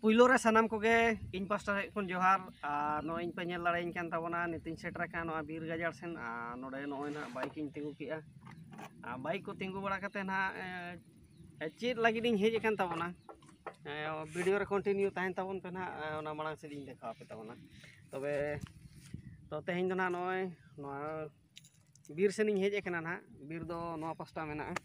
ᱯᱩᱭᱞᱳ ᱨᱮ ᱥᱟᱱᱟᱢ ᱠᱚᱜᱮ ᱤᱧ ᱯᱟᱥᱴᱟ ᱥᱮᱫ ᱠᱷᱚᱱ ᱡᱚᱦᱟᱨ ᱟᱨ ᱱᱚᱜᱼᱚᱭ ᱤᱧ ᱯᱮ ᱧᱮᱞ ᱫᱟᱲᱮᱭᱟᱹᱧ ᱠᱟᱱ ᱛᱟᱵᱚᱱᱟ ᱱᱤᱛᱤᱧ ᱥᱮᱴᱮᱨ ᱟᱠᱟᱱ ᱱᱚᱣᱟ ᱵᱤᱨ ᱜᱟᱡᱟᱲ ᱥᱮᱱ ᱟᱨ ᱱᱚᱰᱮ ᱱᱚᱜᱼᱚᱭ ᱱᱟᱦᱟᱜ ᱵᱟᱭᱤᱠ ᱤᱧ ᱛᱤᱸᱜᱩ ᱠᱮᱜᱼᱟ ᱟᱨ ᱵᱟᱭᱤᱠ ᱠᱚ ᱛᱤᱸᱜᱩ ᱵᱟᱲᱟ ᱠᱟᱛᱮ ᱱᱟᱦᱟᱜ ᱪᱮᱫ ᱞᱟᱹᱜᱤᱫ ᱤᱧ ᱦᱮᱡ ᱟᱠᱟᱱ ᱛᱟᱵᱚᱱᱟ ᱵᱷᱤᱰᱤᱭᱳ ᱨᱮ ᱠᱚᱱᱴᱤᱱᱤᱭᱩ ᱛᱟᱦᱮᱱ ᱛᱟᱵᱚᱱ ᱯᱮ ᱱᱟᱦᱟᱜ ᱚᱱᱟ ᱢᱟᱲᱟᱝ ᱥᱮᱫ ᱤᱧ ᱫᱮᱠᱷᱟᱣ ᱟᱯᱮ ᱛᱟᱵᱚᱱᱟ ᱛᱚᱵᱮ ᱛᱚ ᱛᱮᱦᱮᱧ ᱫᱚ ᱱᱟᱦᱟᱜ ᱱᱚᱜᱼᱚᱭ ᱱᱚᱣᱟ ᱵᱤᱨ ᱥᱮᱱᱤᱧ ᱦᱮᱡ ᱟᱠᱟᱱᱟ ᱱᱟᱦᱟᱜ ᱵᱤᱨ ᱫᱚ ᱱᱚᱣᱟ ᱯᱟᱥᱴᱟ ᱢᱮᱱᱟᱜᱼᱟ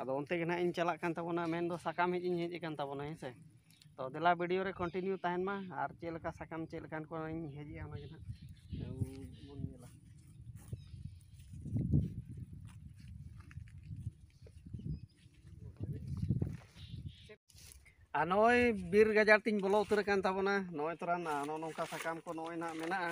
ᱟᱫᱚ ᱚᱱᱛᱮ ᱜᱮ ᱱᱟᱦᱟᱜ ᱤᱧ ᱪᱟᱞᱟᱜ ᱠᱟᱱ ᱛᱟᱵᱚᱱᱟ ᱢᱮᱱᱫᱚ ᱥᱟᱠᱟᱢ ᱦᱮᱡ ᱤᱧ ᱦᱮᱡ ᱟᱠᱟᱱ ᱛᱟᱵᱚᱱᱟ ᱦᱮᱸ ᱥᱮ ᱛᱚ ᱫᱮᱞᱟ ᱵᱷᱤᱰᱤᱭᱳ ᱨᱮ ᱠᱚᱱᱴᱤᱱᱤᱭᱩ ᱛᱟᱦᱮᱱ ᱢᱟ ᱟᱨ ᱪᱮᱫ ᱞᱮᱠᱟ ᱥᱟᱠᱟᱢ ᱪᱮᱫ ᱞᱮᱠᱟᱱ ᱠᱚᱧ ᱦᱮᱡᱮᱜᱼᱟ ᱚᱱᱟ ᱜᱮ ᱱᱟᱦᱟᱜ ᱵᱚᱱ ᱧᱮᱞᱟ ᱟᱨ ᱱᱚᱜᱼᱚᱭ ᱵᱤᱨ ᱜᱟᱡᱟᱲ ᱛᱤᱧ ᱵᱚᱞᱚ ᱩᱛᱟᱹᱨ ᱟᱠᱟᱱ ᱛᱟᱵᱚᱱᱟ ᱱᱚᱜᱼᱚᱭ ᱛᱚᱨᱟ ᱱᱚᱜᱼᱚ ᱱᱚᱝᱠᱟ ᱥᱟᱠᱟᱢ ᱠᱚ ᱱᱚᱜᱼᱚᱭ ᱱᱟᱦᱟᱜ ᱢᱮᱱᱟᱜᱼᱟ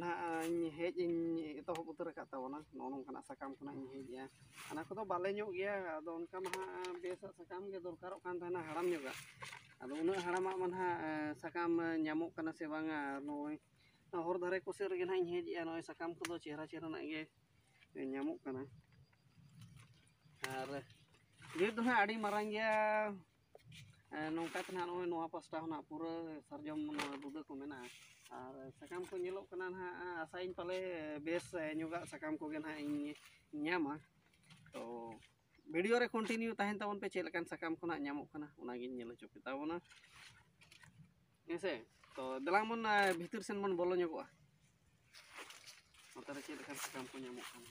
ᱱᱟᱦᱟᱜ ᱤᱧ ᱦᱮᱡ ᱤᱧ ᱮᱛᱚᱦᱚᱵ ᱩᱛᱟᱹᱨ ᱟᱠᱟᱫ ᱛᱟᱵᱚᱱᱟ ᱱᱚᱜᱼᱚ ᱱᱚᱝᱠᱟᱱᱟᱜ ᱥᱟᱠᱟᱢ ᱠᱷᱚᱱᱟᱜ ᱤᱧ ᱦᱮᱡᱼᱟ ᱚᱱᱟ ᱠᱚᱫᱚ ᱵᱟᱞᱮ ᱧᱚᱜ ᱜᱮᱭᱟ ᱟᱫᱚ ᱚᱱᱠᱟ ᱢᱟ ᱱᱟᱦᱟᱜ ᱵᱮᱥᱟᱜ ᱥᱟᱠᱟᱢ ᱜᱮ ᱫᱚᱨᱠᱟᱨᱚᱜ ᱠᱟᱱ ᱛᱟᱦᱮᱱᱟ ᱦᱟᱲᱟᱢ ᱧᱚᱜᱟᱜ ᱟᱫᱚ ᱩᱱᱟᱹᱜ ᱦᱟᱲᱟᱢᱟᱜ ᱢᱟ ᱱᱟᱦᱟᱜ ᱥᱟᱠᱟᱢ ᱧᱟᱢᱚᱜ ᱠᱟᱱᱟ ᱥᱮ ᱵᱟᱝᱟ ᱱᱚᱜᱼᱚᱭ ᱦᱚᱨ ᱫᱷᱟᱨᱮ ᱠᱚ ᱥᱮᱫ ᱨᱮᱜᱮ ᱱᱟᱦᱟᱜ ᱤᱧ ᱦᱮᱡ ᱮᱜᱼᱟ ᱱᱚᱜᱼᱚᱭ ᱥᱟᱠᱟᱢ ᱠᱚᱫᱚ ᱪᱮᱦᱨᱟ ᱪᱮᱦᱨᱟ ᱱᱟᱜ ᱜᱮ ᱧᱟᱢᱚᱜ ᱠᱟᱱᱟ ᱟᱨ ᱵᱤᱨ ᱫᱚ ᱱᱟᱦᱟᱜ ᱟᱹᱰᱤ ᱢᱟᱨᱟᱝ ᱜᱮᱭᱟ ᱮᱸ ᱱᱚᱝᱠᱟ ᱛᱮ ᱱᱟᱦᱟᱜ ᱱᱚᱜᱼᱚᱭ ᱱᱚᱣᱟ ᱯᱟᱥᱴᱟ ᱦᱚᱸ ᱱᱟᱦᱟᱜ ᱯᱩᱨᱟᱹ ᱥᱟᱨᱡᱚᱢ ᱱᱚᱣᱟ ᱵᱩᱫᱟᱹ ᱠᱚ ᱢᱮᱱᱟᱜᱼᱟ᱾ ᱟᱨ ᱥᱟᱠᱟᱢ ᱠᱚ ᱧᱮᱞᱚᱜ ᱠᱟᱱᱟ ᱱᱟᱦᱟᱜ ᱟᱥᱟᱭᱟᱹᱧ ᱯᱟᱞᱮ ᱵᱮᱥ ᱧᱚᱜᱟᱜ ᱥᱟᱠᱟᱢ ᱠᱚᱜᱮ ᱱᱟᱦᱟᱜ ᱤᱧ ᱧᱟᱢᱟ ᱛᱚ ᱵᱷᱤᱰᱤᱭᱳ ᱨᱮ ᱠᱚᱱᱴᱤᱱᱤᱭᱩ ᱛᱟᱦᱮᱱ ᱛᱟᱵᱚᱱ ᱯᱮ ᱪᱮᱫ ᱞᱮᱠᱟᱱ ᱥᱟᱠᱟᱢ ᱠᱷᱚᱱᱟᱜ ᱧᱟᱢᱚᱜ ᱠᱟᱱᱟ ᱚᱱᱟᱜᱤᱧ ᱧᱮᱞ ᱦᱚᱪᱚ ᱯᱮ ᱛᱟᱵᱚᱱᱟ᱾ ᱦᱮᱸ ᱥᱮ ᱛᱚ ᱫᱮᱞᱟᱝ ᱵᱚᱱ ᱵᱷᱤᱛᱤᱨ ᱥᱮᱱ ᱵᱚᱱ ᱵᱚᱞᱚ ᱧᱚᱜᱚᱜᱼᱟ ᱱᱚᱛᱮ ᱨᱮ ᱪᱮᱫ ᱞᱮᱠᱟᱱ ᱥᱟᱠᱟᱢ ᱠᱚ ᱧᱟᱢᱚᱜ ᱠᱟᱱᱟ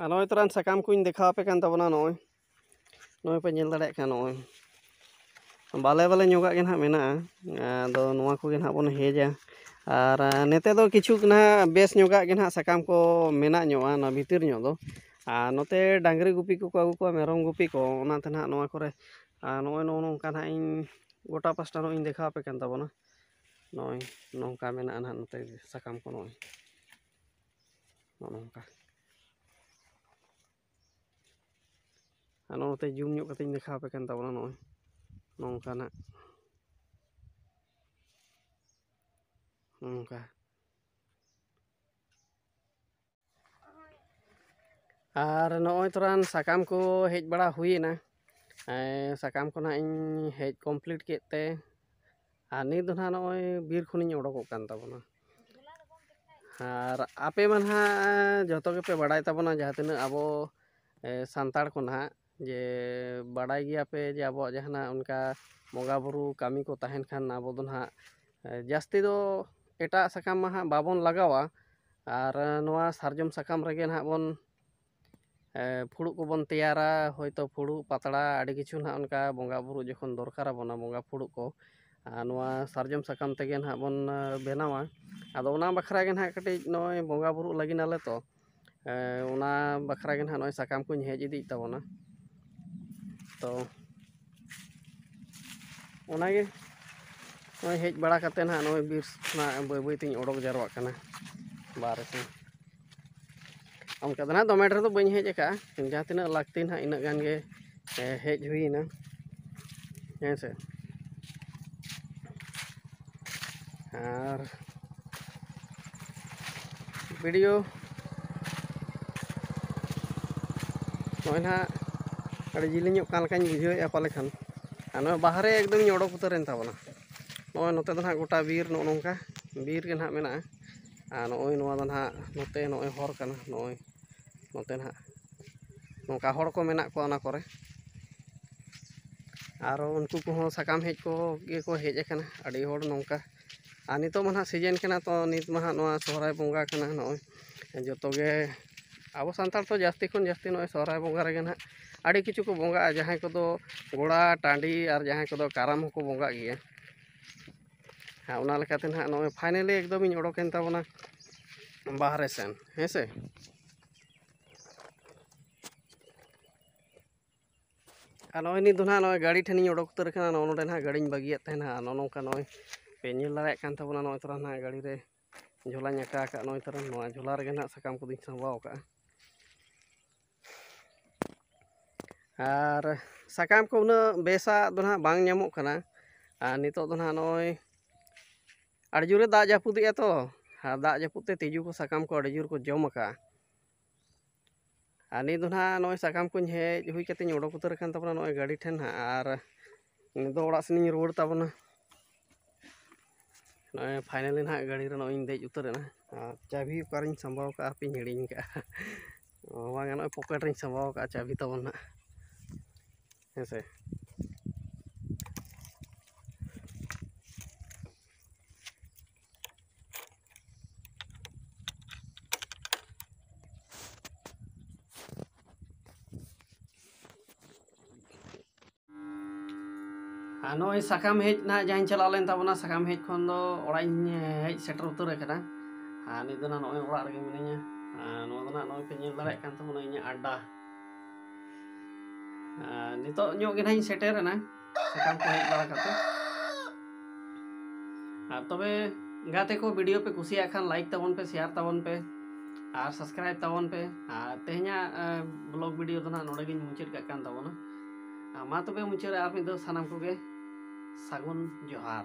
ᱟᱨ ᱱᱚᱜᱼᱚᱭ ᱛᱚᱨᱟᱱ ᱥᱟᱠᱟᱢ ᱠᱚᱧ ᱫᱮᱠᱷᱟᱣ ᱟᱯᱮ ᱠᱟᱱ ᱛᱟᱵᱚᱱᱟ ᱱᱚᱜᱼᱚᱭ ᱱᱚᱜᱼᱚᱭ ᱯᱮ ᱧᱮᱞ ᱫᱟᱲᱮᱭᱟᱜ ᱠᱟᱱᱟ ᱱᱚᱜᱼᱚᱭ ᱵᱟᱞᱮ ᱵᱟᱞᱮ ᱧᱚᱜᱟᱜ ᱜᱮ ᱱᱟᱦᱟᱜ ᱢᱮᱱᱟᱜᱼᱟ ᱟᱫᱚ ᱱᱚᱣᱟ ᱠᱚᱜᱮ ᱱᱟᱦᱟᱜ ᱵᱚᱱ ᱦᱮᱡᱟ ᱟᱨ ᱱᱚᱛᱮ ᱫᱚ ᱠᱤᱪᱷᱩ ᱱᱟᱦᱟᱜ ᱵᱮᱥ ᱧᱚᱜᱟᱜ ᱜᱮ ᱱᱟᱦᱟᱜ ᱥᱟᱠᱟᱢ ᱠᱚ ᱢᱮᱱᱟᱜ ᱧᱚᱜᱼᱟ ᱱᱚᱣᱟ ᱵᱷᱤᱛᱤᱨ ᱧᱚᱜ ᱫᱚ ᱟᱨ ᱱᱚᱛᱮ ᱰᱟᱝᱨᱤ ᱜᱩᱯᱤ ᱠᱚᱠᱚ ᱟᱹᱜᱩ ᱠᱚᱣᱟ ᱢᱮᱨᱚᱢ ᱜᱩᱯᱤ ᱠᱚ ᱚᱱᱟᱛᱮ ᱱᱟᱦᱟᱜ ᱱᱚᱣᱟ ᱠᱚᱨᱮ ᱟᱨ ᱱᱚᱜᱼᱚᱭ ᱱᱚᱜᱼᱚ ᱱᱚᱝᱠᱟ ᱱᱟᱦᱟᱜ ᱤᱧ ᱜᱚᱴᱟ ᱯᱟᱥᱴᱟ ᱱᱚᱜᱼᱚᱭ ᱤᱧ ᱫᱮᱠᱷᱟᱣ ᱟᱯᱮ ᱠᱟᱱ ᱛᱟᱵᱚᱱᱟ ᱱᱚᱜᱼᱚᱭ ᱱᱚᱝᱠᱟ ᱢᱮᱱᱟᱜᱼᱟ ᱱᱟᱦᱟᱜ ᱱᱚᱛᱮ ᱥᱟᱠᱟᱢ ᱠᱚ ᱱᱚᱜᱼᱚᱭ ᱱᱚᱜᱼᱚ ᱱᱚᱝᱠᱟ ᱟᱨ ᱱᱚᱜᱼᱚ ᱱᱚᱛᱮ ᱡᱩᱢ ᱧᱚᱜ ᱠᱟᱛᱮᱧ ᱫᱮᱠᱷᱟᱣ ᱟᱯᱮ ᱠᱟᱱ ᱛᱟᱵᱚᱱᱟ ᱱᱚᱜᱼᱚᱭ ᱱᱚᱝᱠᱟᱱᱟᱜ ᱱᱚᱝᱠᱟ ᱟᱨ ᱱᱚᱜᱼᱚᱭ ᱛᱚᱨᱟᱱ ᱥᱟᱠᱟᱢ ᱠᱚ ᱦᱮᱡ ᱵᱟᱲᱟ ᱦᱩᱭᱮᱱᱟ ᱥᱟᱠᱟᱢ ᱠᱚ ᱱᱟᱜ ᱤᱧ ᱦᱮᱡ ᱠᱚᱢᱯᱞᱤᱴ ᱠᱮᱫ ᱛᱮ ᱟᱨ ᱱᱤᱛ ᱫᱚ ᱱᱟᱦᱟᱜ ᱱᱚᱜᱼᱚᱭ ᱵᱤᱨ ᱠᱷᱚᱱᱤᱧ ᱚᱰᱚᱠᱚᱜ ᱠᱟᱱ ᱛᱟᱵᱚᱱᱟ ᱟᱨ ᱟᱯᱮ ᱢᱟ ᱱᱟᱦᱟᱜ ᱡᱚᱛᱚ ᱜᱮᱯᱮ ᱵᱟᱲᱟᱭ ᱛᱟᱵᱚᱱᱟ ᱡᱟᱦᱟᱸ ᱛᱤᱱᱟᱹᱜ ᱟᱵᱚ ᱥᱟᱱᱛᱟᱲ ᱠᱚ ᱱᱟᱦᱟᱜ ᱡᱮ ᱵᱟᱲᱟᱭ ᱜᱮᱭᱟ ᱯᱮ ᱡᱮ ᱟᱵᱚᱣᱟᱜ ᱡᱟᱦᱟᱱᱟᱜ ᱚᱱᱠᱟ ᱵᱚᱸᱜᱟ ᱵᱳᱨᱳ ᱠᱟᱹᱢᱤ ᱠᱚ ᱛᱟᱦᱮᱱ ᱠᱷᱟᱱ ᱟᱵᱚ ᱫᱚ ᱱᱟᱦᱟᱜ ᱡᱟᱹᱥᱛᱤ ᱫᱚ ᱮᱴᱟᱜ ᱥᱟᱠᱟᱢ ᱢᱟ ᱱᱟᱦᱟᱜ ᱵᱟᱵᱚᱱ ᱞᱟᱜᱟᱣᱟ ᱟᱨ ᱱᱚᱣᱟ ᱥᱟᱨᱡᱚᱢ ᱥᱟᱠᱟᱢ ᱨᱮᱜᱮ ᱱᱟᱦᱟᱜ ᱵᱚᱱ ᱯᱷᱩᱲᱩᱜ ᱠᱚᱵᱚᱱ ᱛᱮᱭᱟᱨᱟ ᱦᱚᱭᱛᱳ ᱯᱷᱩᱲᱩᱜ ᱯᱟᱛᱲᱟ ᱟᱹᱰᱤ ᱠᱤᱪᱷᱩ ᱱᱟᱦᱟᱜ ᱚᱱᱠᱟ ᱵᱚᱸᱜᱟ ᱵᱳᱨᱳ ᱡᱚᱠᱷᱚᱱ ᱫᱚᱨᱠᱟᱨ ᱟᱵᱚᱱᱟ ᱵᱚᱸᱜᱟ ᱯᱷᱩᱲᱩᱜ ᱠᱚ ᱟᱨ ᱱᱚᱣᱟ ᱥᱟᱨᱡᱚᱢ ᱥᱟᱠᱟᱢ ᱛᱮᱜᱮ ᱱᱟᱦᱟᱜ ᱵᱚᱱ ᱵᱮᱱᱟᱣᱟ ᱟᱫᱚ ᱚᱱᱟ ᱵᱟᱠᱷᱨᱟ ᱜᱮ ᱱᱟᱦᱟᱜ ᱠᱟᱹᱴᱤᱡ ᱱᱚᱜᱼᱚᱭ ᱵᱚᱸᱜᱟ ᱵᱳᱨᱳᱜ ᱞᱟᱹᱜᱤᱫ ᱟᱞᱮ ᱛᱚ ᱚᱱᱟ ᱵᱟᱠᱷᱨᱟ ᱜᱮ ᱱᱟᱦᱟᱜ ᱱᱚᱜᱼᱚᱭ ᱥᱟᱠᱟᱢ ᱠᱚᱧ ᱦᱮᱡ ᱤᱫᱤᱭᱮᱜ ᱛᱟᱵᱚᱱᱟ ᱛᱚ ᱚᱱᱟᱜᱮ ᱱᱚᱜᱼᱚᱭ ᱦᱮᱡ ᱵᱟᱲᱟ ᱠᱟᱛᱮᱫ ᱱᱟᱦᱟᱜ ᱱᱚᱜᱼᱚᱭ ᱵᱤᱨ ᱠᱷᱚᱱᱟᱜ ᱵᱟᱹᱭ ᱵᱟᱹᱭ ᱛᱤᱧ ᱚᱰᱚᱠ ᱡᱟᱣᱨᱟᱜ ᱠᱟᱱᱟ ᱵᱟᱦᱨᱮ ᱥᱮᱫ ᱚᱱᱠᱟ ᱫᱚ ᱱᱟᱦᱟᱜ ᱫᱚᱢᱮ ᱰᱷᱮᱨ ᱫᱚ ᱵᱟᱹᱧ ᱦᱮᱡ ᱟᱠᱟᱜᱼᱟ ᱡᱟᱦᱟᱸ ᱛᱤᱱᱟᱹᱜ ᱞᱟᱹᱠᱛᱤ ᱱᱟᱦᱟᱜ ᱤᱱᱟᱹᱜ ᱜᱟᱱ ᱜᱮ ᱦᱮᱡ ᱦᱩᱭᱮᱱᱟ ᱦᱮᱸ ᱥᱮ ᱟᱨ ᱵᱷᱤᱰᱤᱭᱳ ᱱᱚᱜᱼᱚᱭ ᱱᱟᱦᱟᱜ ᱟᱹᱰᱤ ᱡᱤᱞᱤᱧᱚᱜ ᱠᱟᱱ ᱞᱮᱠᱟᱧ ᱵᱩᱡᱷᱟᱹᱣᱮᱫᱼᱟ ᱯᱟᱞᱮ ᱠᱷᱟᱱ ᱟᱨ ᱱᱚᱣᱟ ᱵᱟᱦᱨᱮ ᱮᱠᱫᱚᱢᱤᱧ ᱚᱰᱚᱠ ᱩᱛᱟᱹᱨᱮᱱ ᱛᱟᱵᱚᱱᱟ ᱱᱚᱜᱼᱚᱭ ᱱᱚᱛᱮ ᱫᱚ ᱱᱟᱦᱟᱜ ᱜᱚᱴᱟ ᱵᱤᱨ ᱱᱚᱜᱼᱚ ᱱᱚᱝᱠᱟ ᱵᱤᱨ ᱜᱮ ᱱᱟᱦᱟᱜ ᱢᱮᱱᱟᱜᱼᱟ ᱟᱨ ᱱᱚᱜᱼᱚᱭ ᱱᱚᱣᱟ ᱫᱚ ᱱᱟᱦᱟᱜ ᱱᱚᱛᱮ ᱱᱚᱜᱼᱚᱭ ᱦᱚᱨ ᱠᱟᱱᱟ ᱱᱚᱜᱼᱚᱭ ᱱᱚᱛᱮ ᱱᱟᱦᱟᱜ ᱱᱚᱝᱠᱟ ᱦᱚᱲ ᱠᱚ ᱢᱮᱱᱟᱜ ᱠᱚᱣᱟ ᱚᱱᱟ ᱠᱚᱨᱮ ᱟᱨᱚ ᱩᱱᱠᱩ ᱠᱚᱦᱚᱸ ᱥᱟᱠᱟᱢ ᱦᱮᱡ ᱠᱚ ᱜᱮᱠᱚ ᱦᱮᱡ ᱟᱠᱟᱱᱟ ᱟᱹᱰᱤ ᱦᱚᱲ ᱱᱚᱝᱠᱟ ᱟᱨ ᱱᱤᱛᱚᱜ ᱢᱟ ᱱᱟᱦᱟᱜ ᱥᱤᱡᱮᱱ ᱠᱟᱱᱟ ᱛᱚ ᱱᱤᱛ ᱢᱟ ᱱᱟᱦᱟᱜ ᱱᱚᱣᱟ ᱥᱚᱦᱚᱨᱟᱭ ᱵᱚᱸᱜᱟ ᱠᱟᱱᱟ ᱱᱚᱜᱼᱚᱭ ᱡᱚᱛᱚ ᱜᱮ ᱟᱵᱚ ᱥᱟᱱᱛᱟᱲ ᱫᱚ ᱡᱟᱹᱥᱛᱤ ᱠᱷᱚᱱ ᱡᱟᱹᱥᱛᱤ ᱱᱚᱜᱼᱚᱭ ᱥᱚᱦᱚᱨᱟᱭ ᱵᱚᱸᱜᱟ ᱨᱮᱜᱮ ᱱᱟᱦᱟᱜ ᱟᱹᱰᱤ ᱠᱤᱪᱷᱩ ᱠᱚ ᱵᱚᱸᱜᱟᱜᱼᱟ ᱡᱟᱦᱟᱸᱭ ᱠᱚᱫᱚ ᱜᱚᱲᱟ ᱴᱟᱺᱰᱤ ᱟᱨ ᱡᱟᱦᱟᱸᱭ ᱠᱚᱫᱚ ᱠᱟᱨᱟᱢ ᱦᱚᱸᱠᱚ ᱵᱚᱸᱜᱟᱜ ᱜᱮᱭᱟ ᱦᱮᱸ ᱚᱱᱟ ᱞᱮᱠᱟᱛᱮ ᱱᱟᱦᱟᱜ ᱱᱚᱜᱼᱚᱭ ᱯᱷᱟᱭᱱᱮᱞᱤ ᱮᱠᱫᱚᱢᱤᱧ ᱚᱰᱚᱠᱮᱱ ᱛᱟᱵᱚᱱᱟ ᱵᱟᱦᱨᱮ ᱥᱮᱱ ᱦᱮᱸ ᱥᱮ ᱟᱨ ᱱᱚᱜᱼᱚᱭ ᱱᱤᱛ ᱫᱚ ᱱᱟᱦᱟᱜ ᱱᱚᱜᱼᱚᱭ ᱜᱟᱹᱰᱤ ᱴᱷᱮᱱᱤᱧ ᱚᱰᱚᱠ ᱩᱛᱟᱹᱨ ᱠᱟᱱᱟ ᱱᱚᱜᱼᱚ ᱱᱚᱰᱮ ᱱᱟᱦᱟᱜ ᱜᱟᱹᱰᱤᱧ ᱵᱟᱹᱜᱤᱭᱟᱫ ᱛᱟᱦᱮᱱᱟ ᱱᱚᱜᱼᱚ ᱱᱚᱝᱠᱟ ᱱᱚᱜᱼᱚᱭ ᱯᱮ ᱧᱮᱞ ᱫᱟᱲᱮᱭᱟᱜ ᱠᱟᱱ ᱛᱟᱵᱚᱱᱟ ᱱᱚᱜᱼᱚᱭ ᱛᱚᱨᱟ ᱱᱟᱦᱟᱜ ᱜᱟᱹᱰᱤ ᱨᱮ ᱡᱷᱚᱞᱟᱧ ᱟᱠᱟ ᱟᱠᱟᱫ ᱱᱚᱜᱼᱚᱭ ᱛᱟᱨᱟ ᱱᱚᱣᱟ ᱡᱷᱚᱞᱟ ᱨᱮᱜᱮ ᱱᱟᱦᱟᱜ ᱥᱟᱠᱟᱢ ᱠᱚᱫᱚᱧ ᱥᱟᱢᱵᱟᱣ ᱟᱠᱟᱫᱼᱟ ᱟᱨ ᱥᱟᱠᱟᱢ ᱠᱚ ᱩᱱᱟᱹᱜ ᱵᱮᱥᱟᱜ ᱫᱚ ᱱᱟᱦᱟᱜ ᱵᱟᱝ ᱧᱟᱢᱚᱜ ᱠᱟᱱᱟ ᱟᱨ ᱱᱤᱛᱚᱜ ᱫᱚ ᱱᱟᱦᱟᱜ ᱱᱚᱜᱼᱚᱭ ᱟᱹᱰᱤ ᱡᱳᱨᱮ ᱫᱟᱜ ᱡᱟᱹᱯᱩᱫᱮᱜᱼᱟ ᱛᱚ ᱟᱨ ᱫᱟᱜ ᱡᱟᱹᱯᱩᱫ ᱛᱮ ᱛᱤᱡᱩ ᱠᱚ ᱥᱟᱠᱟᱢ ᱠᱚ ᱟᱹᱰᱤ ᱡᱳᱨ ᱠᱚ ᱡᱚᱢ ᱟᱠᱟᱫᱼᱟ ᱟᱨ ᱱᱤᱛ ᱫᱚ ᱱᱟᱦᱟᱜ ᱱᱚᱜᱼᱚᱭ ᱥᱟᱠᱟᱢ ᱠᱚᱧ ᱦᱮᱡ ᱦᱩᱭ ᱠᱟᱛᱮᱧ ᱚᱰᱚᱠ ᱩᱛᱟᱹᱨ ᱟᱠᱟᱱ ᱛᱟᱵᱚᱱᱟ ᱱᱚᱜᱼᱚᱭ ᱜᱟᱹᱰᱤ ᱴᱷᱮᱱ ᱦᱟᱸᱜ ᱟᱨ ᱱᱤᱛ ᱫᱚ ᱚᱲᱟᱜ ᱥᱮᱱᱤᱧ ᱨᱩᱣᱟᱹᱲ ᱛᱟᱵᱚᱱᱟ ᱱᱚᱜᱼᱚᱭ ᱯᱷᱟᱭᱱᱟᱞᱤ ᱱᱟᱦᱟᱜ ᱜᱟᱹᱰᱤ ᱨᱮ ᱱᱚᱜᱼᱚᱭ ᱤᱧ ᱫᱮᱡ ᱩᱛᱟᱹᱨ ᱮᱱᱟ ᱟᱨ ᱪᱟᱹᱵᱤ ᱚᱠᱟᱨᱤᱧ ᱥᱟᱢᱵᱟᱣ ᱠᱟᱜᱼᱟ ᱦᱟᱯᱮᱧ ᱦᱤᱲᱤᱧ ᱠᱟᱜᱼᱟ ᱵᱟᱝ ᱱᱚᱜᱼᱚᱭ ᱯᱚᱠᱮᱴ ᱨᱤᱧ ᱥᱟᱢᱵᱟᱣ ᱠᱟᱜᱼᱟ ᱪᱟᱹᱵᱤ ᱛᱟᱵᱚᱱ ᱱᱟᱦᱟᱜ ᱦᱮᱸ ᱥᱮ ᱟᱨ ᱱᱚᱜᱼᱚᱭ ᱥᱟᱠᱟᱢ ᱦᱮᱡ ᱱᱟᱦᱟᱜ ᱡᱟᱦᱟᱸᱧ ᱪᱟᱞᱟᱣ ᱞᱮᱱ ᱛᱟᱵᱚᱱᱟ ᱥᱟᱠᱟᱢ ᱦᱮᱡ ᱠᱷᱚᱱ ᱫᱚ ᱚᱲᱟᱜ ᱤᱧ ᱦᱮᱡ ᱥᱮᱴᱮᱨ ᱩᱛᱟᱹᱨ ᱟᱠᱟᱱᱟ ᱟᱨ ᱱᱤᱛ ᱫᱚ ᱱᱚᱜᱼᱚᱭ ᱚᱲᱟᱜ ᱨᱮᱜᱮ ᱢᱤᱱᱟᱹᱧᱟ ᱟᱨ ᱱᱚᱣᱟ ᱫᱚ ᱱᱟᱦᱟᱜ ᱱᱚᱜᱼᱚᱭ ᱯᱮ ᱧᱮᱞ ᱫᱟᱲᱮᱭᱟᱜ ᱠᱟᱱ ᱛᱟᱵᱚᱱᱟ ᱤᱧᱟᱹᱜ ᱟᱰᱰᱟ ᱟᱨ ᱱᱤᱛᱚᱜ ᱧᱚᱜ ᱜᱮ ᱱᱟᱦᱟᱜ ᱤᱧ ᱥᱮᱴᱮᱨᱮᱱᱟ ᱥᱟᱠᱟᱢ ᱠᱚ ᱦᱮᱡ ᱵᱟᱲᱟ ᱠᱟᱛᱮ ᱟᱨ ᱛᱚᱵᱮ ᱜᱟᱛᱮ ᱠᱚ ᱵᱷᱤᱰᱤᱭᱳ ᱯᱮ ᱠᱩᱥᱤᱭᱟᱜ ᱠᱷᱟᱱ ᱞᱟᱭᱤᱠ ᱛᱟᱵᱚᱱ ᱯᱮ ᱥᱮᱭᱟᱨ ᱛᱟᱵᱚᱱ ᱯᱮ ᱟᱨ ᱥᱟᱵᱥᱠᱨᱟᱭᱤᱵ ᱛᱟᱵᱚᱱ ᱯᱮ ᱟᱨ ᱛᱮᱦᱮᱧᱟᱜ ᱵᱞᱚᱜ ᱵᱷᱤᱰᱤᱭᱳ ᱫᱚ ᱱᱟᱦᱟᱜ ᱱᱚᱰᱮ ᱜᱤᱧ ᱢᱩᱪᱟᱹᱫ ᱠᱟᱜ ᱠᱟᱱ ᱛᱟᱵᱚᱱᱟ ᱢᱟ ᱛᱚᱵᱮ ᱢᱩᱪᱟᱹᱫ ᱨᱮ ᱟᱨ ᱢᱤᱫ ᱫᱷᱟᱣ ᱥᱟᱱᱟᱢ ᱠᱚᱜᱮ ᱥᱟᱹᱜᱩᱱ ᱡᱚᱦᱟᱨ